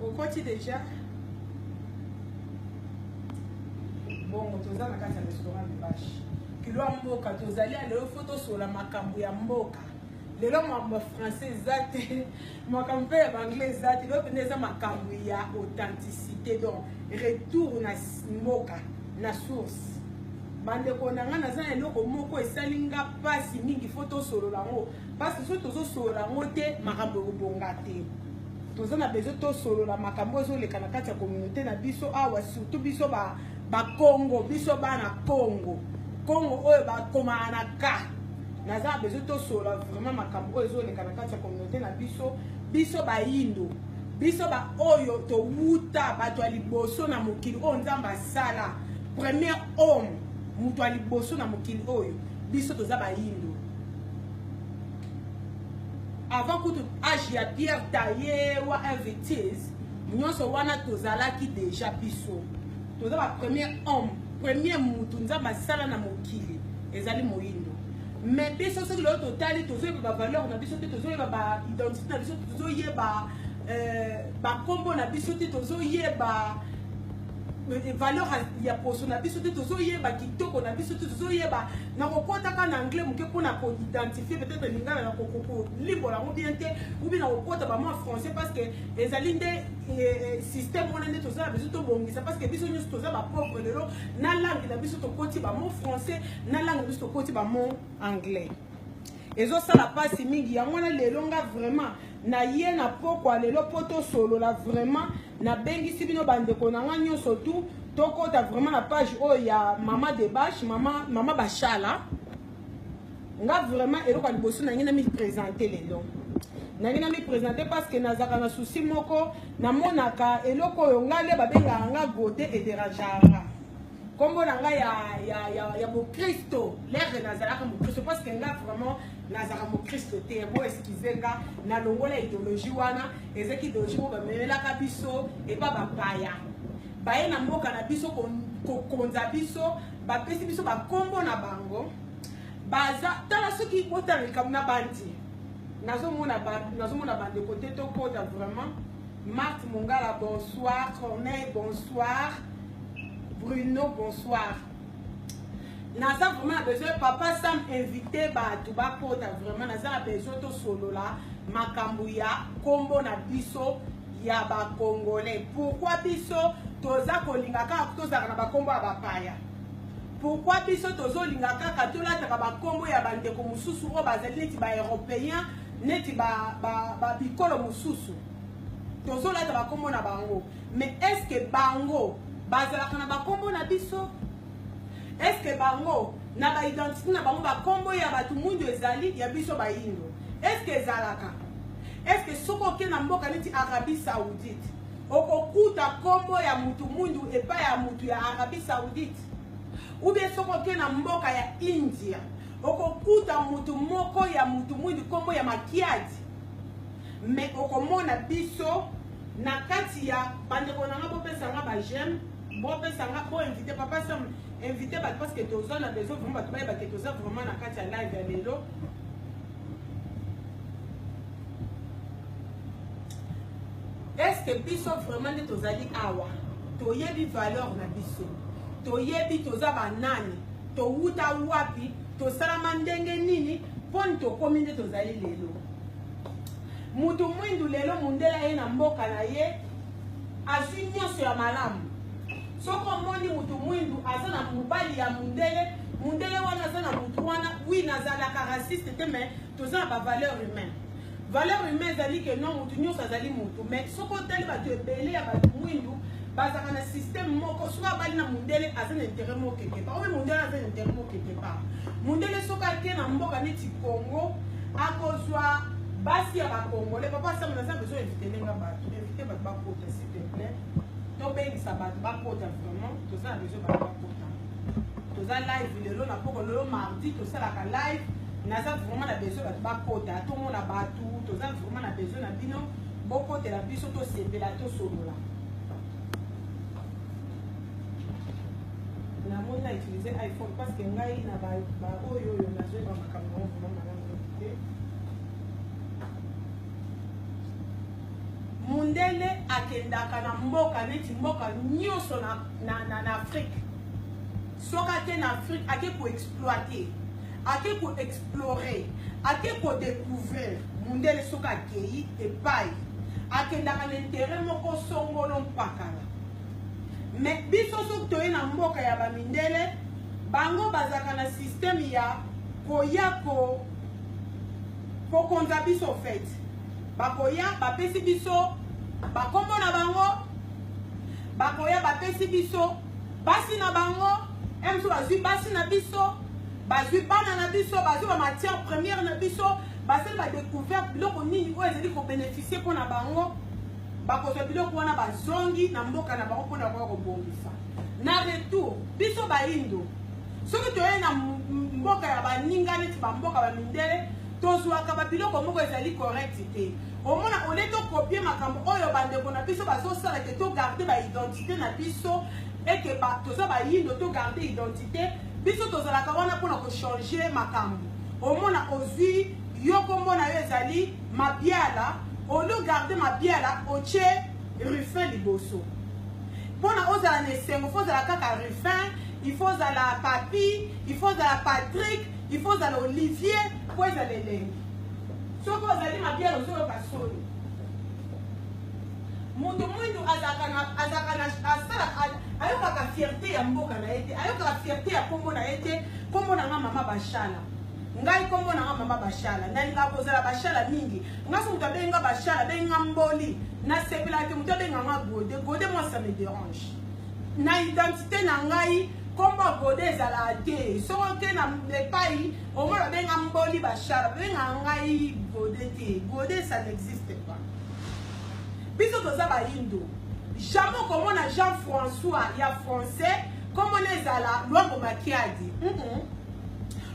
okoti deja bongo toza na kati ya restaurant mibashi kilo ya mboka tozali ya lelo fo tosola makambo ya mboka lelo makambo ya français eza te makambo mpe ya banglais eza te lelo mpenza eza makambo ya authenticité donc retour na mboka na source bandeko na ngai naza na eloko moko esali nga mpasi mingi fo tosolola yango parce que soki tozosolola yango te makambo ekobonga te toza na besoin tosolola makambo ezoleka na kati ya communauté na biso awa surtout biso bakongo biso bana kongo kongo oyo bakomaka na ka naza na besoin tosolola vraiment makambo oyo ezoleka na kati ya communauté na biso biso bayindo biso baoyo towuta bato ya liboso na mokili oyo nzambe asala premier homme moto ya liboso na mokili oyo biso toza bayindo avant kutu age ya pierre taye wa invitise nyonso wana tozalaki deja biso toza ba premier homme premier mutu nzambe asala na mokili ezali moyindo mais biso soki lelo totali tozoyeba bavaleur na biso te tozoyeba baidentité na biso te tozoyeba euh, bakombo na biso te tozoyeba euh, valeur ya poso na biso te tozoyeba kitoko na biso te tozoyeba nakokotaka na anglais moke mpo na koidentifie peut-être lingala na kolimbola yango bien te ubi nakokota bamwa français parce que ezali nde eh, eh, système wana nde toza na biso tobongisa parce que biso nyonso toza bapauvre lelo na langue na biso tokoti bamo français na langue na biso tokoti bamo anglais ezosala mpasi mingi yango wana lelo nga vraiment naye na pokwa lelo mpo tosolola vraiment nabengisi bino bandeko na nga nyonso tu tokota vraiment na page oyo ya mama debache mama, mama bashala nga vraiment eloko ya liboso nangi namipresente lelo nangi namipresente parce que nazalaka na susi moko namonaka eloko oyo nga nde babengaka nga gode ederangeaka kombo na ngai ya, ya, ya, ya mokristo lere nazalaka mokristo parce que nga vraiment nazalaka mokristo te yango eskize nga nalongola ideologie wana ezaki ideologie moko bamemelaka biso epa bapaya baye na mboka na biso kokonza biso bapesi biso bakombo na bango baza tala soki botala likambo na bandi nazomona bandeko te tokota vraiment Marthe Mongala, bonsoir. Corneille, bonsoir. Bruno, bonsoir. naza vraiment na besoin papa sam invité bato bakota vraiment naza na besoin tosolola makambo ya nkombo na biso ya bacongolais pourkui biso toza kolinga kaka tozalaka na bankombo ya bapaya pourkui biso tozolinga kaka tolataka bankombo ya bandeko mosusu oyo bazali neti baeuropéen neti babikolo ba, ba mosusu tozolata bakombo na bango mais est ce que bango bazalaka na bakombo na biso est ce que bango na baidentité na bango bakombo ya bato mwindu ezali ya biso bayindo est ce que ezalaka est ce que soki oke na mboka neti arabie saoudite okokuta kombo ya mutu mundu epai ya mutu ya arabie saoudite ubie soki oke na mboka ya india okokuta mutu moko ya mutu mwindu kombo ya makiadi mais okomona biso na kati ya bandeko na nga bopesa nga ba j'aime bopesa nga bo invité papa sam invité bato parce que toza na besoin vraiment bato bayeba ke toza vraiment na kati ya live ya lelo estce biso vraiment nde tozali awa toyebi valeur na biso toyebi toza banani towuta wapi tosalama ndenge nini mponi tokomi nde tozali lelo mutu mwindu lelo mundela ye na mboka na ye azwi nyonso ya malamu soki omoni mutu mwindu aza na mobali ya mundele mundele wana aza na mutu wana wi nazalaka raciste te mais toza na bavaleur humaine valeur humaine ezali ke non mutu nyonso azali mutu mais soki otali bato ebele ya bato mwindu bazaka na système moko soki abali na mundele aza na intérêt moko quelque part oyo mundele aza na intérêt moko quelque part mundele soki ake na mboka neti congo akozwa basi ya bacongolais papa asama naza besoin invite ndenge bato invite bato bakota s'il te plaît tobengisa bato bakota vraiment toza na besoin bato bakota toza live lelo na poko lelo mardi tosalaka live naza vraiment na besoin bato bakota tomona bato toza vraiment na besoin na bino bokotela biso tosepela tosolola namoni na utilise iphone parce que ngai na baoyo oyo nazoyeba makambo yango vraimen malamu te mundele akendaka na mboka neti mboka nyonso na, na, na, na afrike soki ake na afrike ake koexploite ake koexplore ake kodecouvrir Mundele soki akeyi epai akendaka na intere moko songolo mpakala me biso soki toye na mboka ya bamindele bango bazalaka na systeme ya koya ko kokonza biso fete bakoya bapesi biso bakombo na bango bakoya bapesi biso basi na bango mso bazwi basi na biso bazwi bana na biso bazwi bamatière première na biso basali ba découverte biloko nini oyo ezali kobeneficie mpo na bango bakozwa biloko wana bazongi na mboka na bango mpona koya kobongisa na retour biso baindo soki toye na mboka ya baninga neti bamboka bamindele tozwaka babiloko moko ezali correct te omona ole tokopie makambo oyo bandeko na biso bazosala te togarde baidentité na biso ete toza bayindo togarde identité biso tozalaka wana mpona kochange makambo Omona ozui yo kombo na yo ezali mabiala olio garde mabiala otie ruffin liboso mpona ozala na esengo fo ozala kaka ruffin il faut ozala papi il faut ozala patrick il faut ozala olivier mpo ezala elengi soki ozali mabiala ozoyoka soni moto mwindu azalaka na azalaka na asalaka ayokaka fierte ya mboka na ye te ayokaka fierte ya nkombo na ye te nkombo na nga mama bashala ngai nkombo na nga mama bashala nalingaka kozala bashala mingi nga so moto abengi nga bashala abengi nga mboli nasepelaka te moto abenga nga gode gode moi ça me dérange na identité na ngai nkombo gode ezalaka te soko te na epai omona babenga mboli bashala babenga ngai gode te gode ça n'existe pas biso toza bayindo jamais okomona jean françois ya français nkombo na ezala lwango makiadi mm -mm.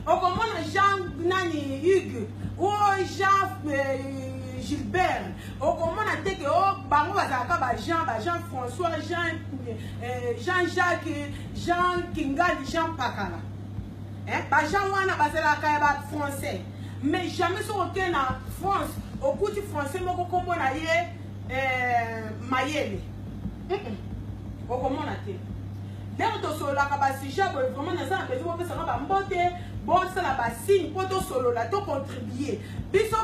okomona jean nani hugue o oh, jean euh, gilbert okomona te ke oh, bango bazalaka bajean bajean françois jean euh, jean jacques jean kingali jean pakala eh, ba gens wana bazalaka ya ba français mais jamais soki oke na france okuti français moko kombo na ye eh, mayele okomona te ndenge tosololaka basujet boye vraiment naza na besoin bopesaka bambote bosala basigne mpo tosolola tocontribue biso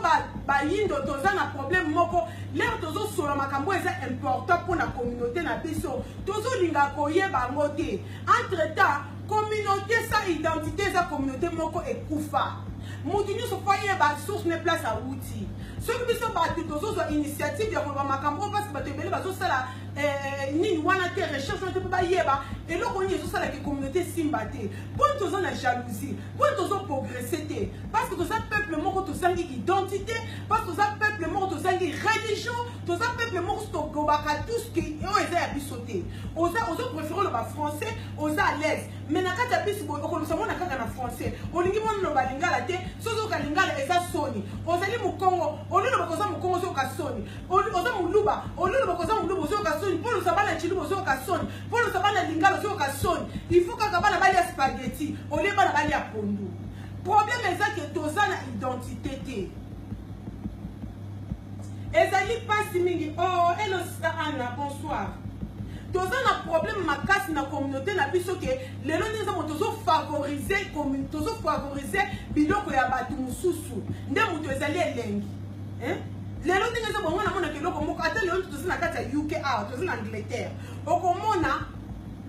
bayindo ba toza na problème moko lere tozosolola makambo eza important mpo na communauté na biso tozolinga koyeba yango te entre temps Communauté sans identité eza communauté moko ekufa. Mutu nyonso faut ayeba source ne place awuti. Soki biso bato tozozwa initiative ya koloba makambo oyo parce que bato ebele bazosala eh, nini wana te recherche wana te mpo bayeba eloko nini ezosala ke communauté esimba te mpo toza na jalousie mpo tozoprogresse te parce que toza peuple moko tozangi identité parce que toza peuple moko tozangi religion toza peuple moko tokobaka tout ce que oyo eza ya biso te oza ozoprefere oloba français oza à l'aise mais na kati ya bisi boye okolobisa mwana kaka na français olingi mwana oloba lingala te soki oka lingala eza soni ozali mokongo oliloba koza mokongo ozoyoka soni oza moluba oliloba koza moluba ozoyoka soni mpo olosa bana ciluba ozoyoka soni mpo olosa bana lingala ozoyoka soni il faut kaka bana balia spaghetti olie bana balia pondu problème eza ke toza na identité te ezali mpasi mingi o oh, elo sista anna bonsoir toza na problème makasi na communauté na biso ke lelo nde eza moto tozofavorize tozofavorize biloko ya bato mosusu nde moto ezali elengi lelo ndenge eza bongo namonaka eloko moko ata lelo toza na kati ya uk awa toza na angleterre okomona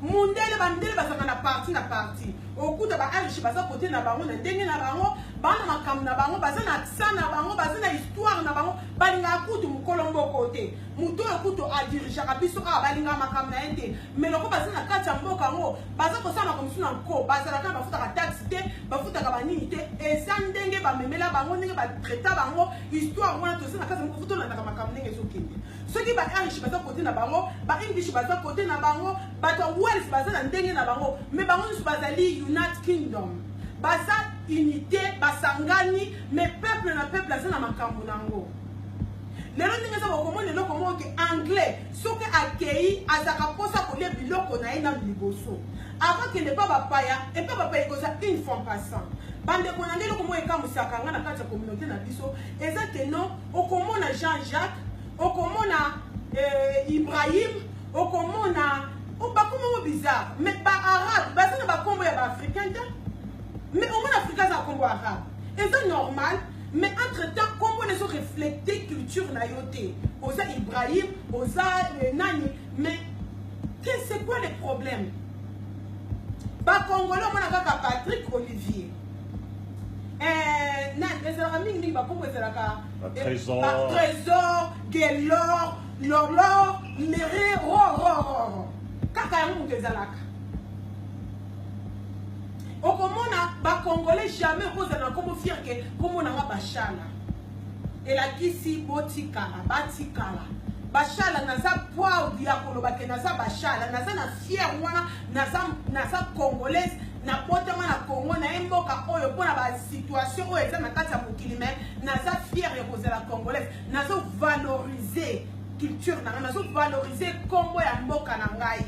mundele bandele bazalaka na parti na parti okuta baariche baza kote na bango na ndenge na bango bana makambo na bango baza na aksa na bango baza na histoire na bango balingaka kutu mokolo mboko te moto oyo kutu adirigeaka biso awa balingaka makambo na ye te mai loko baza na kati ya mboka yango baza kosala makambo mosusu na nko bazalaka na bafutaka taxe te bafutaka banini te eza ndenge bamemela bango ndenge batraita bango histoire wana toza na kati ya moko futolandaka makambo ndenge ezokende soki ba irish baza kote na bango ba english baza kote na bango bato ya wales baza na ndenge na bango mais bango nyonso bazali united kingdom baza unité basangani mais peuple na peuple aza na makambo na yango lelo ndenge eza bokomona eloko moko ke anglais soki akei azalaka mposa kolia biloko na ye nano liboso avant kende epa bapaya epa bapaya ekozala une fois passant bandeko na ngai eloko moko ekamwisaka ngai na kati ya communauté na biso eza ke non okomona jean jacques okomona euh, ibrahim okomona oh, bakombo mo bizarre mais baarabe baza na bakombo ya baafricain te mais omona afrika aza kombo arabe eza normal mais entre temps kombo na ezo reflete culture na yo te oza ibrahim oza euh, nani mais c'est quoi le problème bakongole omona kaka patrick olivier Eh, na ezalaka mingi mingi bakombo ezalaka trésor gelor lolor mere rorororo kaka yango moto ezalaka okomona bacongolais jamais okozala na nkombo fier ke nkombo na nga bashala elakisi botikala batikala bashala naza proud ya koloba ke naza bashala naza na fier wana naza congolaise nabotama na congo naye mboka oyo mpo na basituation oyo eza na kati ya mokili me naza fiere ya kozala congolaise nazovalorize culture na ngai nazovalorize nkombo ya mboka na ngai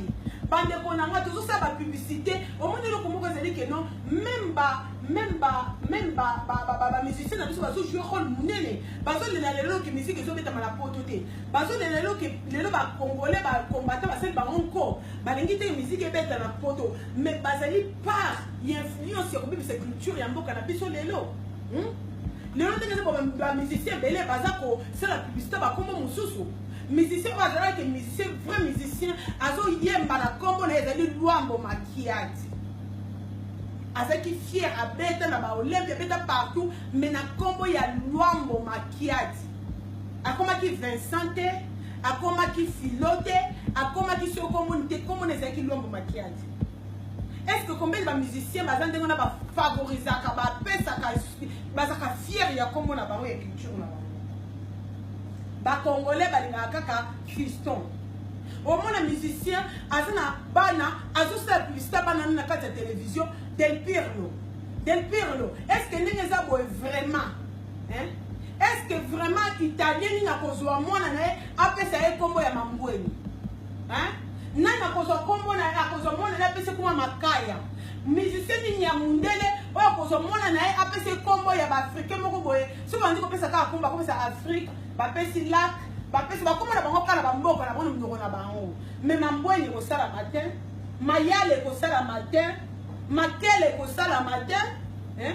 bandeko na ngai tozosala bapublicité omoni eloko moko ezali keno meme ba meme ba meme bamusicien na biso bazojoue role monene bazolela lelo ke miziki ezobetama na poto te bazolela lelo ke lelo bacongolais bacombatant basali bango nko balingi te miziki ebeta na poto mais bazali part ya influence ya kobebisa culture ya mboka na biso lelo hmm? lelo ndenge nde bamusicien ebele baza kosala publicité bakombo mosusu musicien oyo azalaki musicien vrai musicien azoyemba na kombo na ye ezali lwambo makiati azalaki fier abeta na baolympia abeta partout mais na kombo ya lwambo makiati akomaki vincent te akomaki filo te akomaki soki okomoni te komona ezalaki lwambo makiadi est ce que combien ba musicien baza ndenge wana bafavorisaka bapesaka bazalaka fiere ya kombo na bango ya culture na bango bacongolais balingaka kaka fiston omona musicien aza na bana azosala publicité bana na kati ya télévision del pirlo del pirlo est ce que ndenge eza boye vraiment Hein? Est-ce que vraiment Italien nini akozwa mwana na ye apesa ye kombo ya mangweni? Hein? Nani akozwa kombo na ye akozwa mwana na ye apesa kuma makaya? Musicien nini ya mundele oyo akozwa mwana na ye apesa ye kombo ya baafricain moko boye soki bandi kopesa kaka kombo akomisa Afrique bapesi lac bapesi bakoma na bango kala bamboka na bango na minoko na bango me mambweni ekosala matin mayale ekosala matin makele ekosala matin eh?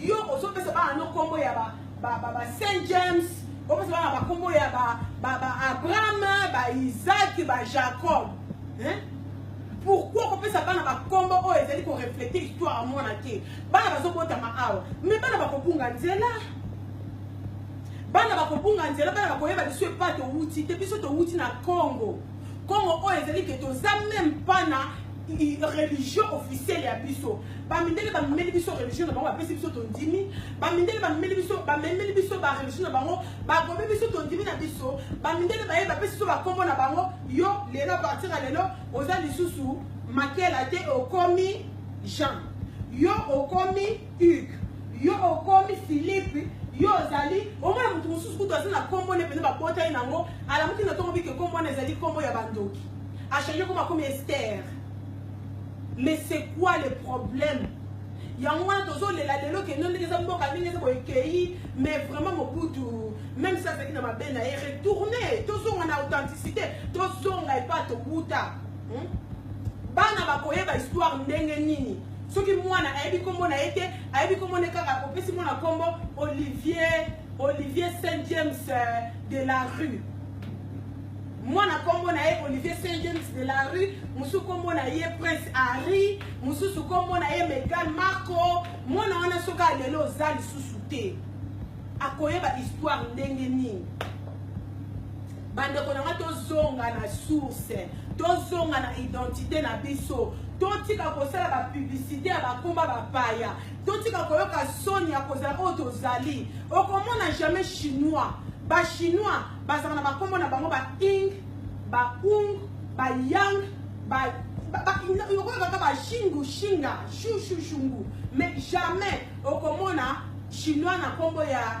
yo ozopesa bana no nkombo ya saint james opesa bana bankombo ya baabraham baisaki bajacob pourkui kopesa bana bankombo oyo ezali koreflete histoire ya mwana te bana bazobotama awa me bana bakobunga nzela bana bakobunga nzela bana bakoyeba liso epa towuti te biso towuti na congo congo oyo ezali ke toza meme pana religion officielle ya biso bamindele bamemeli biso religion na bango bapesi biso tondimi bamindele bamemeli biso bamemeli biso bareligion na bango bagomi biso tondimi na biso bamindele baye bapesi biso bakombo na bango yo lelo partir ya lelo oza lisusu makela te okomi jean yo okomi Hugues, yo okomi Philippe, yo ozali omona moto mosusu kutu aza na kombo ne mpenza babota ye nango alamuki na ntongo bike kombo wana ezali kombo ya bandoki achange koma komi ester mais c'est quoi le problème yango wana tozolela lelo kendo ndenge eza mboka ndenge eza boekei mais vraiment mobutu même si azalaki na mabe na ye retourne tozonga na authenticité tozonga epa tobuta hmm? bana bakoyeba histoire ndenge nini soki mwana ayebi nkombo na ye te ayebi nkombo ne kaka opesi mwana nkombo olivier olivier saint james euh, de la rue mwana nkombo na ye olivier saint james de la rue mosusu nkombo na ye prince harry mosusu nkombo na ye megal marco mwana wana soki alelo oza lisusu te akoyeba histoire ndenge nini bandeko na ngai tozonga na source tozonga na identité na biso totika kosala bapublicité ya bakoma bapaya totika koyoka soni ya kozala oyo tozali okomona jamais chinois bachinois bazalaka na bakombo na bango baing baung bayang okoyokaka bashingu shinga shushushungu mais jamais okomona chinois na nkombo ya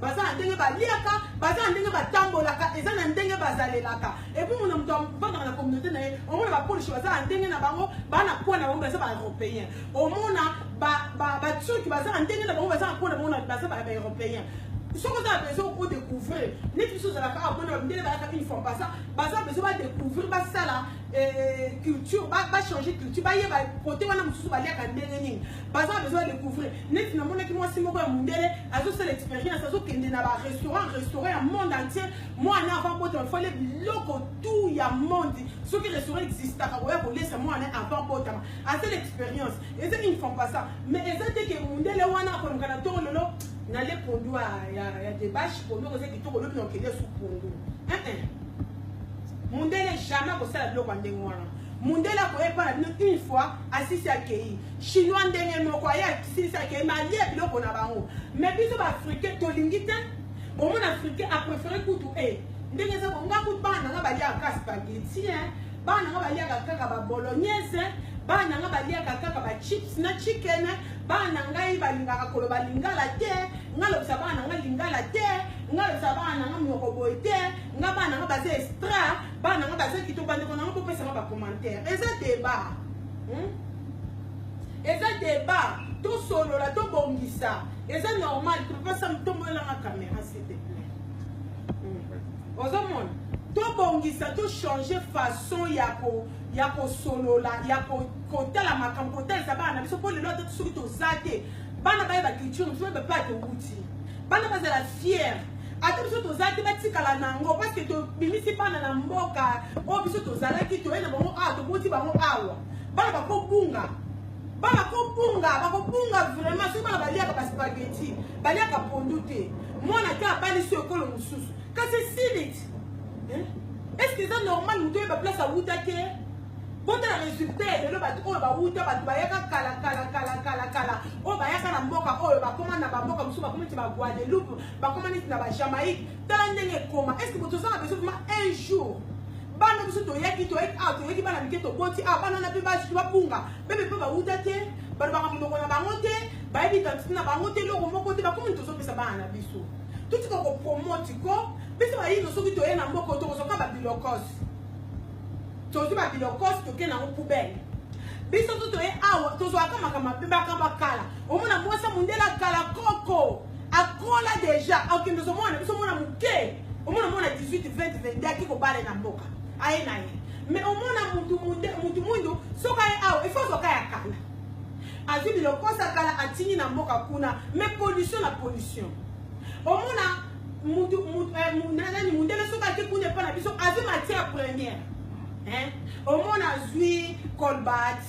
baza na ndenge baliaka baza na ndenge batambolaka eza na ndenge bazalelaka epuis mona moto avandaka na communauté na ye omona bapolisi baza na ndenge na bango baa na kona bango baza baeuropéen omona baturki baza na ndenge na bango baza na kona bango baza baeuropéen soki oza na besoin o découvrir neti biso ozalaka awa mona mindele bayaka une fois pasa baza besoin badécouvrir basala eh, eh, culture bachange culture bayeba kote wana mosusu baliaka ndenge nini baza besoin de couvrir neti namonaki mwasi moko ya mondele azosala expérience azokende na barestaurant restaurant ya monde entier mwana avant botama fale biloko tout ya monde soki restaurant existaka koya kolesa mwana avant botama asala expérience eza une femme pas ça mais eza te ke mondele wana akonoka na toro lelo nale pondu ya debache pondu okoza kitoko lobi na okende su pondu mondele jamais akosala biloko ya ndenge wana mondele akoya epa na bino une fois asisi akei chinois ndenge moko aye asilisaki ye malie biloko na bango mais biso baafricain tolingi te bomona africain aprefere kutu e eh, ndenge eza bonga kutu bana nanga baliaka ka spageti bana nanga baliaka kaka babolognese bana na ngai baliaka kaka bachips na chicken bana na ngai balingaka koloba lingala te ngai lobisa bana na ngai lingala te ngai lobisa bana na ngai monoko boye te ngai bana na ngai baza extra bana na ngai baza kitoko bandeko na ngai bopesa ngai bacommentaire eza debat hmm? eza débat tosolola tobongisa eza normal topesa tomolelanga caméra s'il te plaît hmm. ozomona tobongisa tochange façon ya ko ya kosolola ya kotala makambo kotalisa bana na biso mpo lelo ata soki toza te bana bayeba culture mpe bapate wuti bana bazala fiere ata biso tozala te batikala na yango parceke tobimisi bana na mboka oyo biso tozalaki toye na bango awa toboti bango awa bana bakobunga bana kobunga bakobunga vraiment soki bana baliaka baspageti baliaka pondu te mwana te abalisi ekolo mosusu kasi silit eske eza normal moto oyeba place awuta te botala resultat ya lelo bato oyo bawuta bato bayaka kala kala kala kala kala oyo bayaka na mboka oyo bakoma na bamboka mosusu bakoma neti baguadeloupe bakoma neti na bajamaïque tala ndenge ekoma estce moto oza na beso vrima un jour bana biso toyaki toyaki awa ah, toyaki bana mike toboti awa ah, bana wana mpe basuki babunga bebe mpe bawuta te balobaka monoko na bango te bayebi identité na bango te eloko moko te bakomi tozopesa bana na biso totika kopromote ko biso bayino soki toye na mboka tokozwaka babilokose tozwi babilokos toke nango poubele biso to toye awa tozwaka makambo mabe makambo ya kala omona mwasi ya mondele ya kala koko akola deja akende ozomona biso omona moke omona mwana 18 20 22 aki kobale na mboka aye na ye mais omona mutu mwindu soki aye awa ifo azwaka ya kala azwi bilokosa kala atindi na mboka kuna mais pollution na pollution omona mutu mutu eh, nani mundele soki ake kuna epa na biso azwi matière première hein omona azwi colbat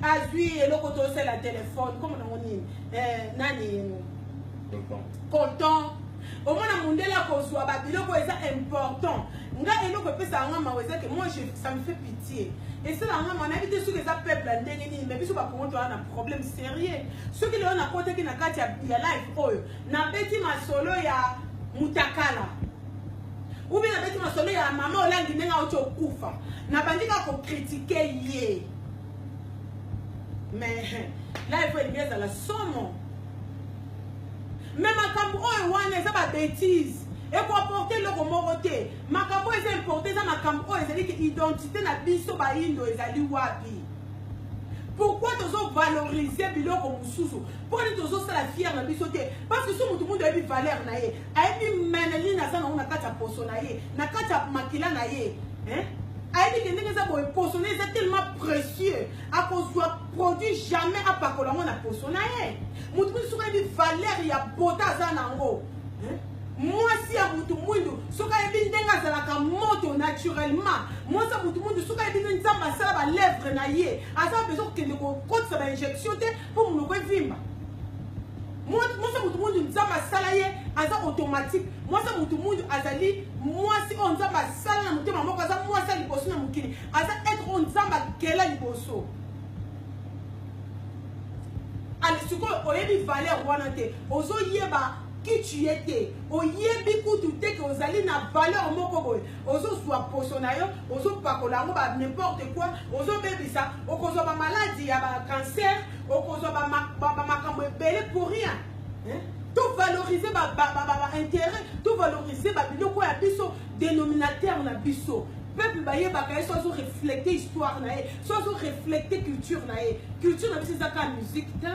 azwi eloko tosala telefone komo nango nini eh, nani colton omona mundele akozwa babiloko eza important nga eloko epesa yanga mawa eza ke moi ça me fait pitié esala yanga mawa nayebi te soki eza peuple ya ndenge nini mais biso bakongo toza na problème sérieux soki lelo nakotaki na kati ya life oyo nabeti masolo ya mutakala ou bien nabeti masolo ya mama olangi ndenge auti okufa nabandi kaka kokritike ye mais live oyo elingi ezala somo me makambo oyo wana eza babetise ekoporte eloko moko te makambo oyo eza importe eza makambo oyo ezali identité na biso bayindo ezali wapi pourquoi tozo valoriser biloko mosusu mponi tozosala fiere na biso te parce que so motu mundu ayebi valeur na ye ayebi meneline aza nango na kati ya poso na ye na kati ya makila na ye ayebi ke ndenge eza boye poso na ye eza tellement précieux akozwa produit jamais apakola yango na poso na ye motu mosusu soki ayebi valeur ya bota aza nango mwasi ya mutu mwindu soki ayebi ndenge azalaka moto naturellement mwasi ya mutu mwindu soki ayebi ndenge nzambe asala balèvre na ye aza bezo kokende kokotisa bainjection te mpo monoko evimba mwasi ya mutu mwindu nzambe asala ye aza automatique mwasi ya mutu mwindu azali mwasi oyo nzambe asala na motema moko aza mwasi ya liboso na mokili aza etre oyo nzambe akela liboso sikoyo oyebi valeur wana te ozoyeba qui tu es te oyebi kutu te ke ozali na valeur moko boye ozozwa poso na yo ozopakola yango ba n'importe quoi ozobebisa okozwa bamaladi ya bacancer okozwa bamakambo ebele pour rien tovalorize baintérêt tovalorize babiloko ya biso dénominateur na biso peuple bayebaka ye so azo reflete histoire na ye so azo reflete culture na ye culture na biso eza kaka musique te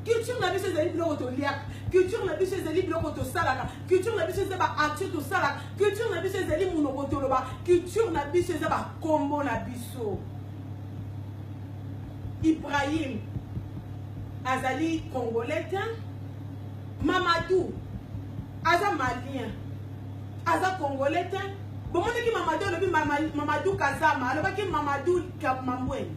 culture na biso ezali biloko toliaka culture na biso ezali biloko tosalaka culture na biso eza baaction tosalaka culture na biso ezali monoko toloba culture na biso eza bakombo na biso ibrahim azali congolais te mamadou aza malien aza congolais te bomonaki mamadou alobi mamadou kazama alobaki mamadou mamambweni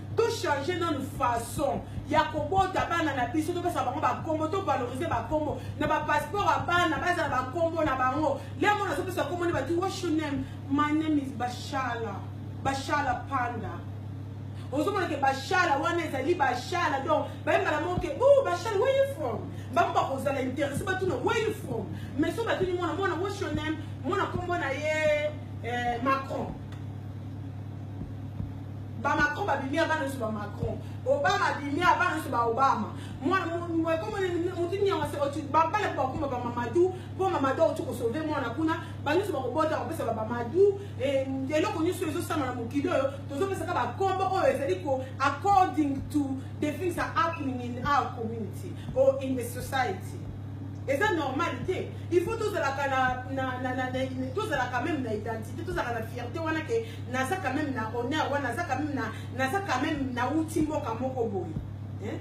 to changer nanu façon ya kobota bana na biso topesa bango bakombo to valoriser bakombo na bapasseport ya bana bazala bakombo na bango lea mona azopesa kombo nde bati wash your name my name is bashala bashala panda ozomona ke bashala wana ezali bashala donc bayembala moko ke o oh, bashala where you from bango bakozala interesse batuna where you from mais so batuni mwana mwana wash your name mwana kombo na ye eh, macron ba macron babimi abana nyonso ba macron obama abimi abana nyonso ba obama babana mpo bakoma ba mamadu mpo mamadu auti kosauve mwana kuna banyonso bakobota kopesa ba mamadu eh, eloko nyonso ezosama na mokili oyo tozopesaka bakombo oyo ezali ko according to the things are happening in our community or in the society eza normal te il faut tozalaka na, na, na, na, na, tozalaka meme na identité tozalaka na fierté wana ke naza quand même na honneur wana naza quand même na naza quand même na uti mboka moko boye hein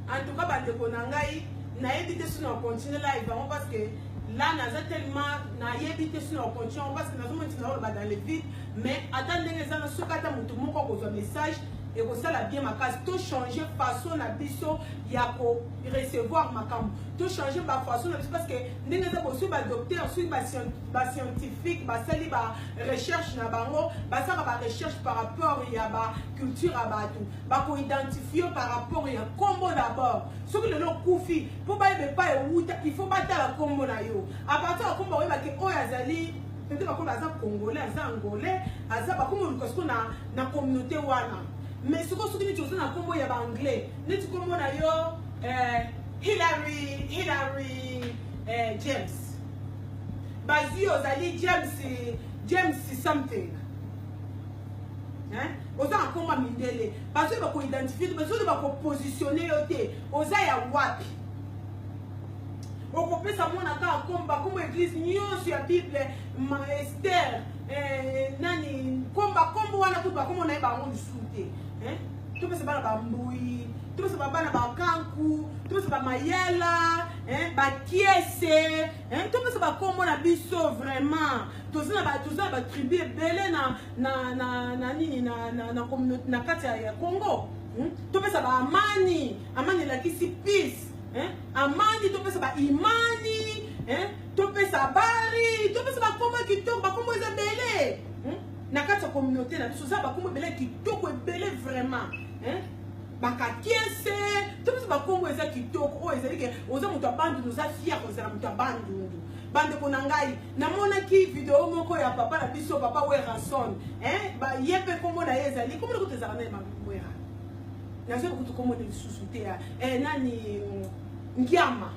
en tout cas ba ndeko na ngai nayebi te sino continue live bango parce que là naza tellement nayebi te sino continue parce que nazo monti na oloba dans le vide mais ata ndenge eza na soki ata motu moko akozwa message ekosala bien makasi tochange façon na biso ya korecevoir makambo tochange bafaçon na biso parce que ndenge eza bosoki badocteur soki bascienti ba scientifique basali ba recherche na bango basaka ba recherche par rapport ya ba culture ya bato bakoidentifie par rapport ya nkombo d'abord soki lelo okufi mpo bayeba epai owuta il faut batala nkombo na yo apartir ya nkombo oyebaki oyo azali peut-être bakomi aza congolais aza angolais aza bakomi oluka siko na, na communauté wana mais sikoyo soki neti oza na nkombo ya baanglais neti nkombo na yo eh, hillary hillary eh, james bazui ozali james james something oza na nkoma mindele bazwi bakoidentifie te bazwi bakopositione yo te oza ya wapi okopesa mwana kaka komba kombo eglise nyonso ya bible maester eh, nani komba kombo wana kutu bakombo na ye bango lisusu te eh? topesa bana bambui topesa babana bakanku topesa bamayala hein, bakiese hein, topesa bakombo na biso vraiment toza na toza na batribu ebele na na na na nini na na na communauté na kati ya, ya Congo hmm? topesa ba amani amani elakisi peace hein? amani topesa ba imani hein? topesa habari topesa bakombo ya kitoko bakombo eza ebele hmm? na kati ya communauté na biso oza bakombo ebele ya kitoko ebele vraiment hein? bakakiese to biso bakongo eza kitoko oyo ezali ke oza moto ya bandundu oza fier kozala moto ya bandundu bandeko na ngai namonaki video moko ya papa na biso papa werason ye mpe nkombo na ye ezali nkombo nakutu ezalaka na ye mawera nazo kutu nkombo na lisusu te ya eh, nani ngiama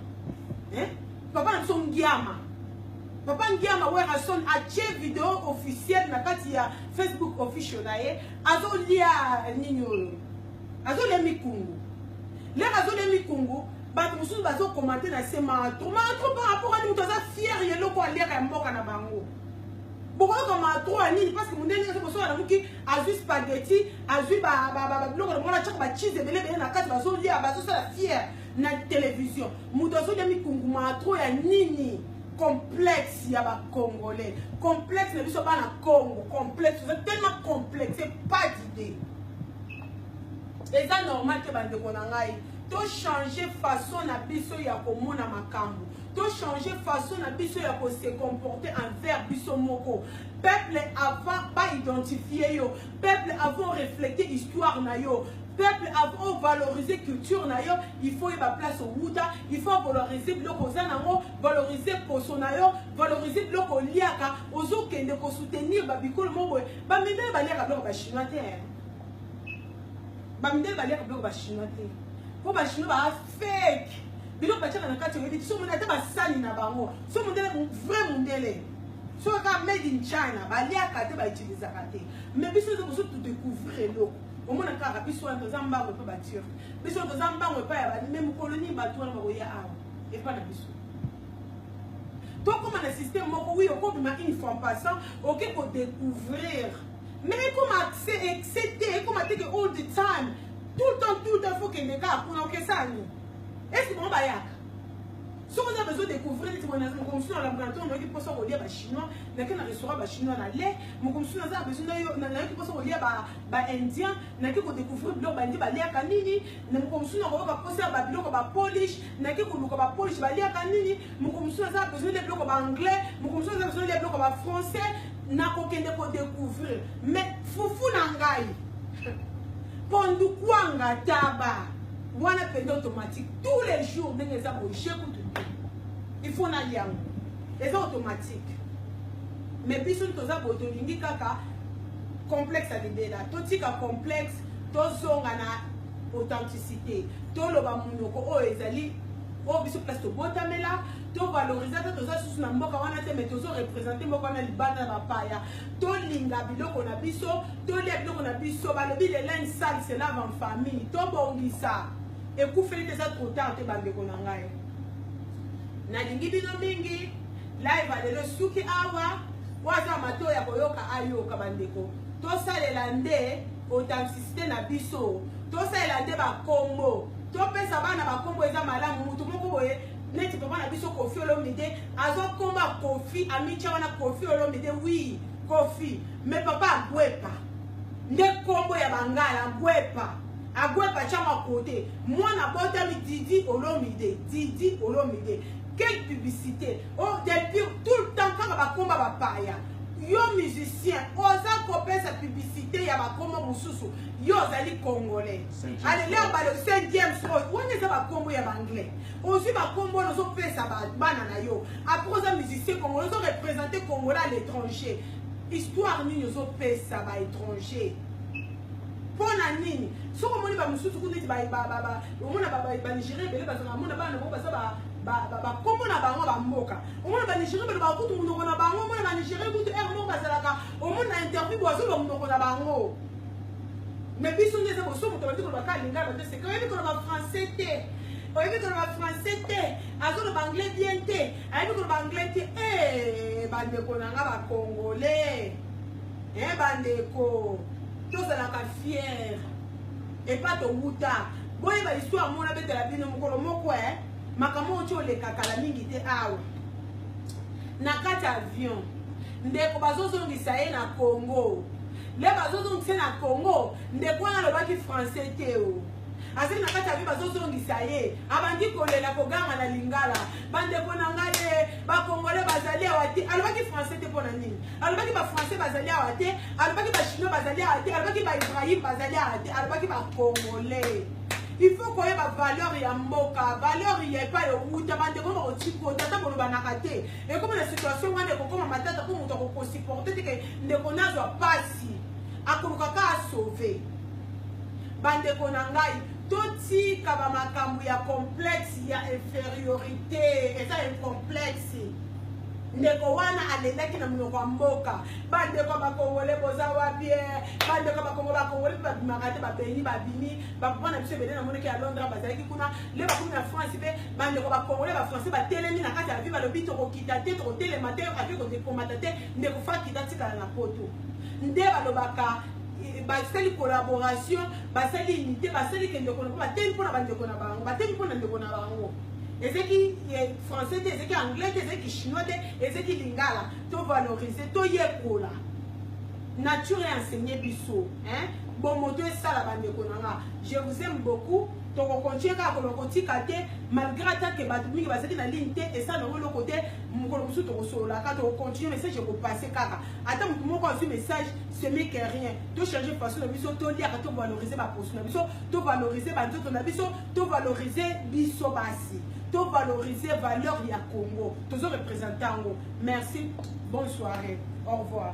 papa na biso ngiama papa ngiama werason atie video officiel na kati ya facebook official na ye azolia nini oyo azolia mikungu lere azolia mikungu bato mosusu bazokomante na se matro matro par rapport ani moto aza fiere ya eloko aliaka ya mboka na bango bokoyoka matro ya nini parce que mondenge aza kosola na moki azwi spageti azwi biloko na mwana caka bachize ebele ebele na kati bazolia bazosala fiere na television moto azolia mikunguma trop ya nini complexe ya bacongolais complexe na biso bana congo complexe oza tellement complexe pas d'idée eza normal te bandeko na ngai tochange façon na biso ya komona makambo tochange façon na biso ya kose comporte envers biso moko peuple avant baidentifie yo Peuple avant refléter histoire na yo. Peuple avant valoriser culture na yo, il faut yeba place au wuta, il faut valoriser biloko oza nango, valoriser poso na yo, valoriser biloko oliaka, ozo kende ko soutenir ba bikolo moko. Ba mindele ba liaka biloko ba chinois te. Ba mindele ba liaka biloko ba chinois te. Po ba chinois ba fake. Biloko ba tiaka na kati oyebi, so mona ata ba sani na bango. So mondele vrai mondele. soki kaka made in china baliaka te bautilisaka te mais biso eza koso todecouvrir eloko omona kaka biso wana toza mbango epai baturke biso wana toza mbango epai ya bame mokolo nini bato wana bakoya awa epai na biso tokóma na système moko wi okobima une fois en passant oke kodecouvrir mais ekoma accès excès te ekoma teke all the time tout le temps tout le temps fokende kaka kuna okesani esi bango bayaka soki oza bezo découvrir neti boye moko mosusu na lamuka na ntongo nayoki mposa kolia bachinois nake na restaurant bachinois na le moko mosusu naza bezo nayoki mposa kolia baindien nake kodécouvrir biloko baindi baliaka nini na moko mosusu nakoyoka mposa ya babiloko bapolish nake koluka bapolish baliaka nini moko mosusu naza bezo lia biloko baanglais moko mosusu naza bezo lia biloko bafrançais nakokende kodécouvrir mais fufu na ngai pondukua nga taba wana pende automatique tous les jours ndenge eza boje kutu te il faut nalia yango eza automatique mais biso toza boye tolingi kaka complexe ya libela totika complexe tozonga na authenticité toloba monoko oyo ezali oyo biso place tobotamela tovalorize ata toza susu na mboka wana te mais tozo represente mboka wana libanda na bapaya tolinga biloko na biso tolia biloko na biso balobi le linge sale se lave en famille tobongisa ekufeli te eza trop tard te bandeko na ngai nalingi bino mingi live alelo esuki awa oyo aza matoi ya koyoka ayoka bandeko tosalela nde authenticité na biso tosalela nde bakombo topesa bana bakombo eza malamu motu moko boye neti papa na biso kofi olomide azokomba kofi amitya wana kofi olomide wi kofi Mais papa Agwepa, nde kombo ya bangala Agwepa. Agwepa chama kote. Mwana botami Didi Olomide, Didi Olomide. Quelle publicité? Oh, Delpire, tout le temps kaka bakomba bapaya. Yo musicien, oza kopesa publicité ya bakombo mosusu. Yo ozali congolais. Allez, là balo Saint James oyo, oh, wana eza bakombo ya banglais. Ozwi bakombo ozo pesa bana na yo. Après oza musicien congolais, ozo représenter congolais à l'étranger. histoire nini ozopesa ba étranger mpo na nini soki omoni bamosusu kuna ete omona banigérien ebele bazala amona bana na bango baza bakombo na bango bamboka omona banigérien balobaka kutu monoko na bango omona banigérien kutu ere moko bazalaka omona na interview bwazoloba monoko na bango mais biso nde eza boso moto bandi koloba kaka lingala te seke oyebi koloba français te oyebi koloba français te azoloba anglais bien te ayebi koloba anglais te ee bandeko na nga bacongolais e bandeko tozalaka fiere epa towuta boyeba histoire moko nabetela bino mokolo moko e eh, makambo oyo ti olekakala mingi te awa na kati avion ndeko bazozongisa ye na congo nde bazozongisa ye na congo ndeko wana alobaki français te o oh. azali na kati ya vie bazozongisa ye abandi kolela koganga na lingala bandeko na ngai ye bakongole bazali awa te alobaki français te mpo na nini alobaki bafrançais bazali awa te alobaki bachinois bazali awa te alobaki baibrahim bazali awa te alobaki bakongole il faut koyeba valeur ya mboka valeur ya epai owuta bandeko bakotikota ata bolobanaka te ekomi na situation wana ekokoma matata mpo moto akokosiporte teke ndeko nazwa mpasi akoluka ka asauve Bandeko na ngai, totika ba makambo ya complexe ya inferiorité, eza un complexe. ndeko wana alendaki na monoko ya mboka bandeko bakongole boza wapi eh? bandeko bakongo bakongole mpe babimaka te babeni babimi bapapa na biso ebele na monoko ya londres bazalaki kuna le bakomi na france mpe bandeko bakongole bafrançais batelemi na kati ya vie balobi tokokita te tokotelema te ake kodekomata te ndeko fakita tikala na poto nde balobaka basali collaboration basali unité basali ke ndeko na bango batemi mpo na bandeko na bango batemi mpo na ndeko na bango ezeki français te ezeki anglais te ezeki chinois te ezeki lingala tovalorize toyekola nature enseigné biso hein? bomoto esala bandeko na nga je vous aime beaucoup tokokontinue kaka koloba kotika te malgré ata ke bato mingi bazalaki na ligne te esala nango eloko te mokolo mosusu tokosololaka tokokontinue message ekopasse kaka ata motu moko azwi message ce n'est que rien to changer façon na biso to liaka to valoriser ba poso na biso to valoriser ba nzoto na biso to valoriser biso basi to valoriser valeur ya Congo tozo représenter yango merci bonne soirée au revoir